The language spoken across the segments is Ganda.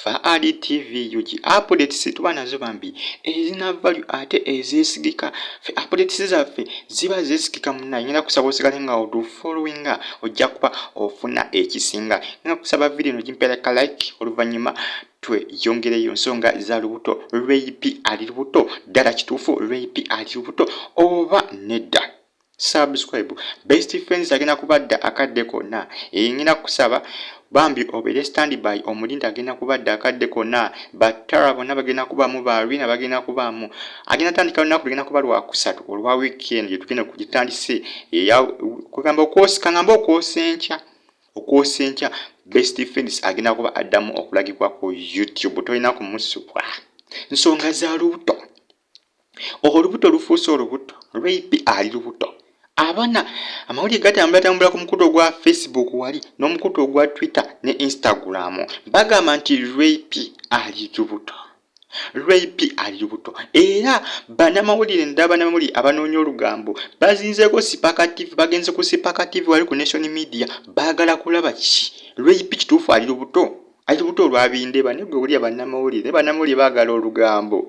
Faali TV UG updates tuba nazo bambi ezina value ate ezesigika fe updates zaffe ziba zesigika munaye ngenda kusaba osigale nga odu followinga ojja kuba ofuna ekisinga ngenda kusaba video eno gimpera ka like oluvannyuma tweyongereyo nsonga za lubuto lweyipi ali lubuto ddala kituufu lweyipi ali lubuto oba nedda subscribe best friends agenda kubadda akadde konna engenda kusaba bambi obere standby omulinda agenda kubadda akadde konna battara bonna bagenda kubaamu barina bagenda kubaamu agenda tandika lunaku ligenda kuba lwakusatu olwa weekend gyetugenda kugitandise kugamba okwosikangamba okwosa enkya okwosa enkya best friends agenda kuba addamu okulagibwa ku youtube tolina kumusubwa nsonga za lubuto olubuto lufuuse olubuto rape ali lubuto abaana amawulire gatambulatambula ku mukutu ogwa facebook wali n'omukutu ogwa twitter ne instagram bagamba nti rape ali lubuto rp ali lubuto era banamawulire naddala banamawulire abanoonya olugambo bazinzeeko sipaka tv bagenze ku sipaka tv wali ku nation media baagala kulaba ki rp kituufu ali lubuto Ati buto olwabinde bane gwe wulira bannamawulire naye bannamawulire baagala olugambo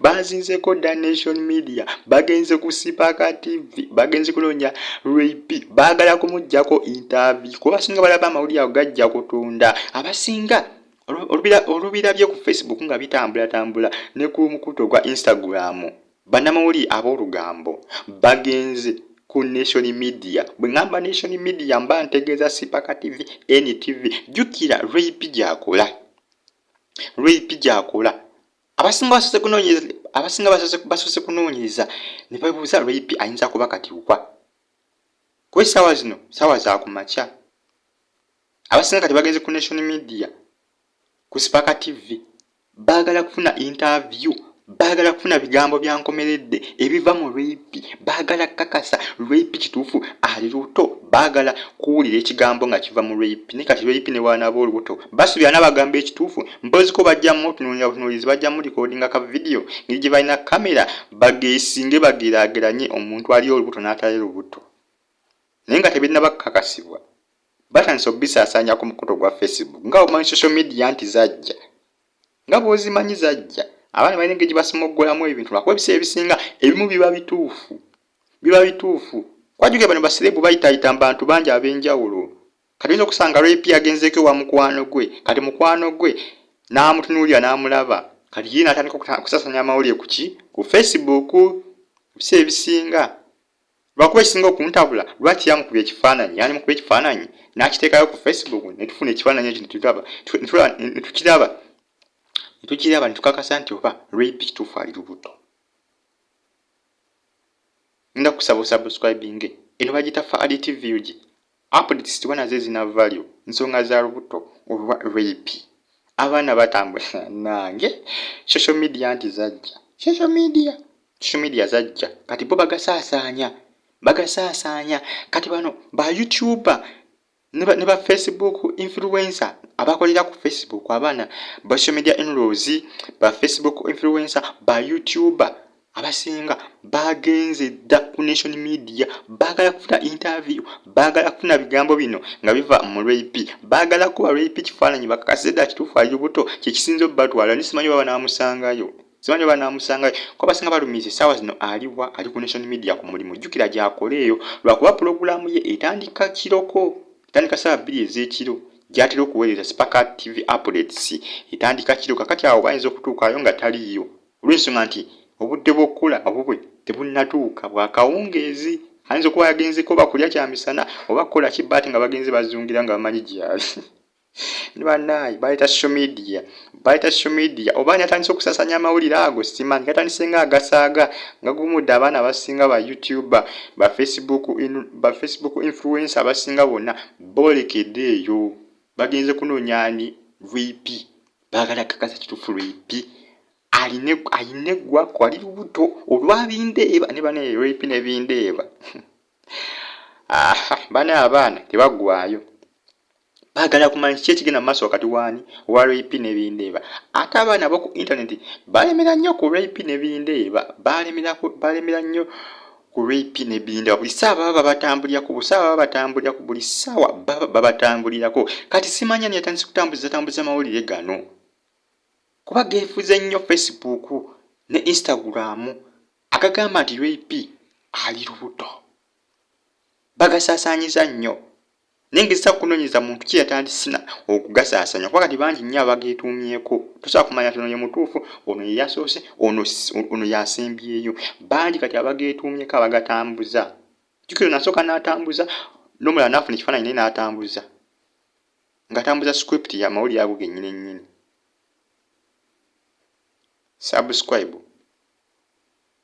baazinzeko da nation media bagenze ku sipaaka tv bagenze kunoonya rap baagala kumuggyako intaavi kuba basinga balaba amawulire ago gajja kutunda abasinga olubirabye ku facebook nga bitambulatambula ne ku mukuto gwa instagram Bannamawulire ab'olugambo bagenze ku Nation Media. Bwe ngamba Nation Media mba ntegeeza Sipaka TV, NTV. Jjukira RAP gy'akola. RAP gy'akola. Abasinga basoose kunoonyereza abasinga basoose kunoonyereza ne babuuza RAP ayinza kuba kati wa. Kuba essaawa zino ssaawa za ku makya. Abasinga kati bagenze ku Nation Media. Ku Sipaka TV baagala kufuna intaaviyu, baagala kufuna bigambo bya nkomeredde ebiva mu Lweyipi, baagala kukakasa Lweyipi kituufu ali lubuto, baagala kuwulira ekigambo nga kiva mu Lweyipi. Naye kati Lweyipi ne bw'anaaba olubuto basuubira anaabagamba ekituufu? Mpozi ko bajja mutunuulira butunuulizi, bajja mulikodinga ka vidiyo ngeri gye balina kkamera bageesinge bageraageranye omuntu ali olubuto n'atali lubuto naye nga tebinnaba kukakasibwa. batandise okubisaasaanya ku mukutu ogwa facebook nga omanyi social media nti zajja nga bwozimanyi zajja abaana balina engeri gyebasimoggolamu ebintu lwakuba ebiseera ebisinga ebimu biba bituufu biba bituufu kwajuge bano basirebu bayitayita mu bantu bangi ab'enjawulo kati oyinza okusanga lwepi agenzeeko ewa mukwano gwe kati mukwano gwe n'amutunuulira n'amulaba kati ye natandika okusasanya amawulire kuki ku facebook ebiseera ebisinga Lwakuba ekisinga okuntabula lwaki yamukubye ekifaananyi yani mukubye ekifaananyi n'akiteekayo ku Facebook ne tufuna ekifaananyi ekyo netulaba netukiraba netukiraba netukakasa nti oba rape kituufu ali lubuto nda kusaba osubscribinge eno bagita faali tv ug Updates tubona ze zinavvalyo nsonga za lubuto oba rape. Abaana batambula nange social media nti zajja social media social media zajja kati bo bagasaasaanya bagasaasaanya kati bano ba youtuber ne ba facebook influencer abakolera ku facebook abaana ba social media inrows ba facebook influencer ba youtuber abasinga baagenze dda ku nation media baagala kufuna interview baagala kufuna bigambo bino nga biva mu rap baagala kuba rap kifaananyi bakakase dda kituufu ali lubuto kyekisinza obubatwala ni simanyi oba banaamusangayo simanyi oba banaamusangayo ko abasinga balumiza essaawa zino aliwa ali ku nation media ku mulimu jjukira gy'akola eyo lwakuba pulogulaamu ye etandika kiroko etandika ssaawa bbiri ez'ekiro gyatera okuweereza sipaka tv updates etandika kiro kakati awo bayinza okutuukayo nga taliiyo olw'ensonga nti obudde bw'okukula obubwe tebunnatuuka bwa kawungeezi ayinza okuba yagenzeeko oba kulya kya misana oba kukola ki baati nga bagenze bazungira nga bamanyi gyali ni bannaayi bayita social media bayita social media oba ani atandise okusasanya amawulire ago simanyi gatandise nga agasaaga nga gumudde abaana abasinga ba youtuber ba facebook in, ba facebook influence abasinga bonna boolekede eyo bagenze kunoonya ani vp bagala kakasa kitufu lwepi aline aine gwa kwali lubuto olwabindeeba ne bana lwepi nebindeeba aha bana abaana tebagwayo bagala kumanya kiki ekigenda mu maaso wakati waani wa rap nebindeeba ate abaana boku intaneti balemera nnyo ku rap nebindeeba balemera nnyo Rip ne Binda buli saa baba babatambulirako buli saa baba batambulirako buli saawa baba babatambulirako kati simanya ni yatandise kutambuza tambuza mawulire gano kuba geefuze nnyo Facebook ne Instagram agagamba nti Rip ali lubuto bagasaasaanyiza nnyo naye ngezesa kukunonyeza muntu ki yatandisina okugasasanya kuba kati bangi nnyo abageetuumyeko tosobola kumanya ti ono ye mutuufu ono ye yasoose ono ono yasembyeyo bangi kati abageetuumyeko abagatambuza jukira nasooka n'atambuza nomulala naafuna ekifaananyi naye n'atambuza ngatambuza script ya mawulire ago gennyini ennyini subscribe